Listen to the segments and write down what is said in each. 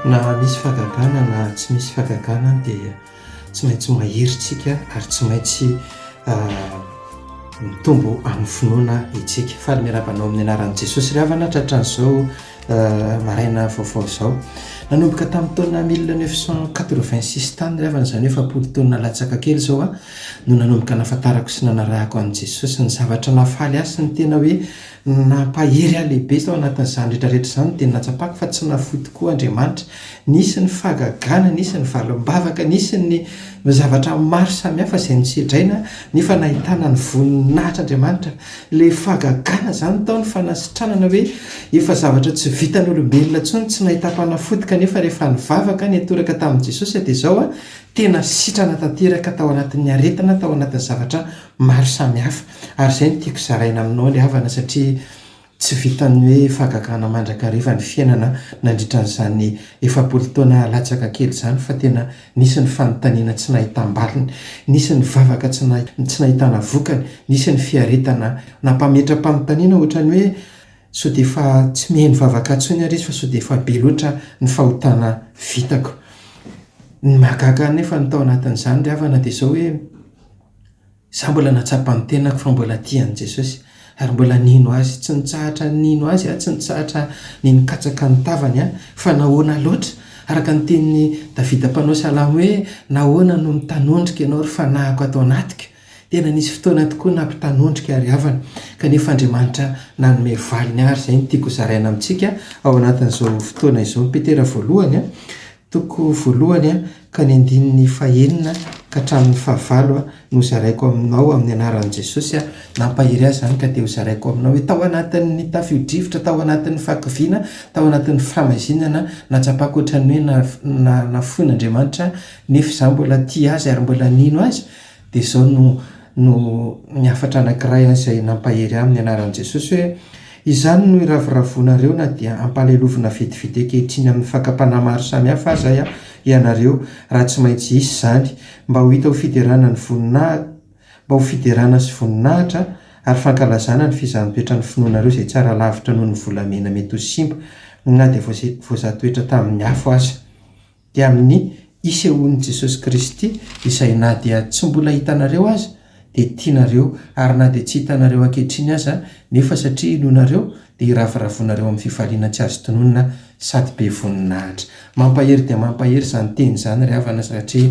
Na misy fahagagana na tsy misy fahagagana dia tsy maintsy mahery isika ary tsy maintsy ah, mitombo amin'ny finoana isika. Faly miarahaba anao amin'ny anaran'i Jesosy ry havana tratran'izao Maraina vaovao izao. Nanomboka tamin'ny taona mille neuf cent quatre-vingt-six tany ry havana, izany hoe efapolo taona latsaka kely izao aho no nanomboka nahafantarako sy nanarahako an'i Jesosy. Ny zavatra nahafaly ahy sy ny tena hoe nampahery ahy lehibe tao anatin'izany rehetra rehetra izany dia ny nahatsapako fa tsy nafoy tokoa Andriamanitra. Nisy ny fahagagana, nisy ny valim-bavaka, nisy ny zavatra maro samihafa izay nosedraina aho nefa nahitana ny voninahitr'Andriamanitra. Ilay fahagagana izany tao ny fanasitranana hoe efa zavatra tsy vitan'ny olombelona intsony, tsy nahitam-panafody kanefa rehefa nivavaka, nitoraka tamin'i Jesosy aho dia izao aho, tena sitrana tanteraka tao anatin'ny aretina, tao anatin'ny zavatra maro samihafa. Ary izay no tiako zaraina aminao ilay havana satria tsy vitan'ny hoe fahagagana mandrakariva ny fiainana nandritra an'izany efapolo taona latsaka kely izany fa tena Nisy ny fanontaniana tsy nahitam-baliny, nisy ny vavaka tsy nahitana vokany, nisy ny fiaretana nampametra-panontaniana ohatran'ny hoe sao dia efa tsy mihaino vavaka intsony ary izy fa sao dia efa be loatra ny fahotana vitako. Ny mahagaga anefa ny tao anatin'izany ry havana dia izao hoe, Izaho mbola nahatsapa ny tenako fa mbola tia an'i Jesosy, ary mbola nino Azy. Tsy nitsahatra nino Azy aho, tsy nitsahatra ny nikatsaka ny tavany aho. Fa nahoana loatra? Araka ny tenin'i Davida mpanao salamo hoe, Nahoana no mitanondrika ianao ry fanahiko ato anatiko? Tena nisy fotoana tokoa nampitanondrika aho ry havana, kanefa Andriamanitra nanome valiny àry. Izay no tiako hozaraina amintsika ao anatin'izao fotoana izao. Petera voalohany, Toko voalohany ka ny andininy fahenina ka hatramin'ny fahavalo no zaraiko aminao amin'ny anaran'i Jesosy aho. Nampahery ahy izany ka dia hozaraiko aminao hoe tao anatin'ny tafio-drivotra, tao anatin'ny fahakiviana, tao anatin'ny fihamazinana nahatsapako ohatran'ny hoe nafoin'Andriamanitra aho nefa izaho mbola tia Azy ary mbola nino Azy Dia izao no no ny hafatra anankiray an izay nampahery ahy amin'ny anaran'i Jesosy hoe, Izany no iravoravoanareo na dia ampalelovina vetivety ankehitriny amin'ny fakam-panahy maro samihafa aza ianareo, raha tsy maintsy hisy izany, mba ho hita ho fiderana ny voninah mba ho fiderana sy voninahitra ary fankalazana ny fizaham-petran'ny finoanareo izay tsara lavitra noho ny volamena mety ho simba na dia voa voazaha toetra tamin'ny afo aza. dia amin'ny isehoan'i Jesosy Kristy izay na dia tsy mbola hitanareo aza dia tianareo ary na dia tsy hitanareo ankehitriny aza nefa satria inoanareo dia hiravoravoanareo amin'ny fifaliana tsy azo tononina sady be voninahitra. Mampahery dia mampahery izany teny izany ry havana satria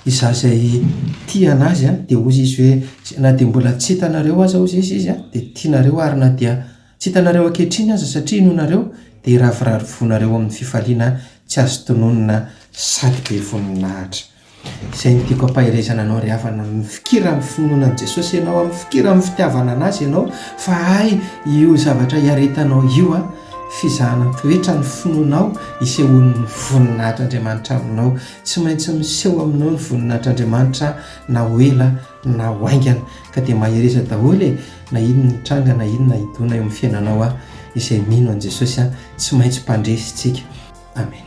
izaho izay tia an'azy dia hozy izy hoe na dia mbola tsy hitanareo aza hozy izy izy dia tianareo ary na dia Tsy hitanareo ankehitriny aza satria inoanareo dia hiraviravy vonareo amin'ny fifaliana tsy azo tononina sady be voninahitra. Izay no tiako ampaherezana anao ry havana, mifikira amin'ny finoana an'i Jesosy ianao an, mifikira amin'ny fitiavana an'Azy ianao fa hay io zavatra iaretanao io an, fizahana ny toetra ny finoanao isehoan'ny voninahitr'Andriamanitra aminao. Tsy maintsy miseho aminao ny voninahitr'Andriamanitra na ho ela na ho haingana ka dia mahereza daholo e! Na inona hitranga na inona hidona eo amin'ny fiainanao aho izay mino an'i Jesosy aho tsy maintsy mpandresy tsika Amen.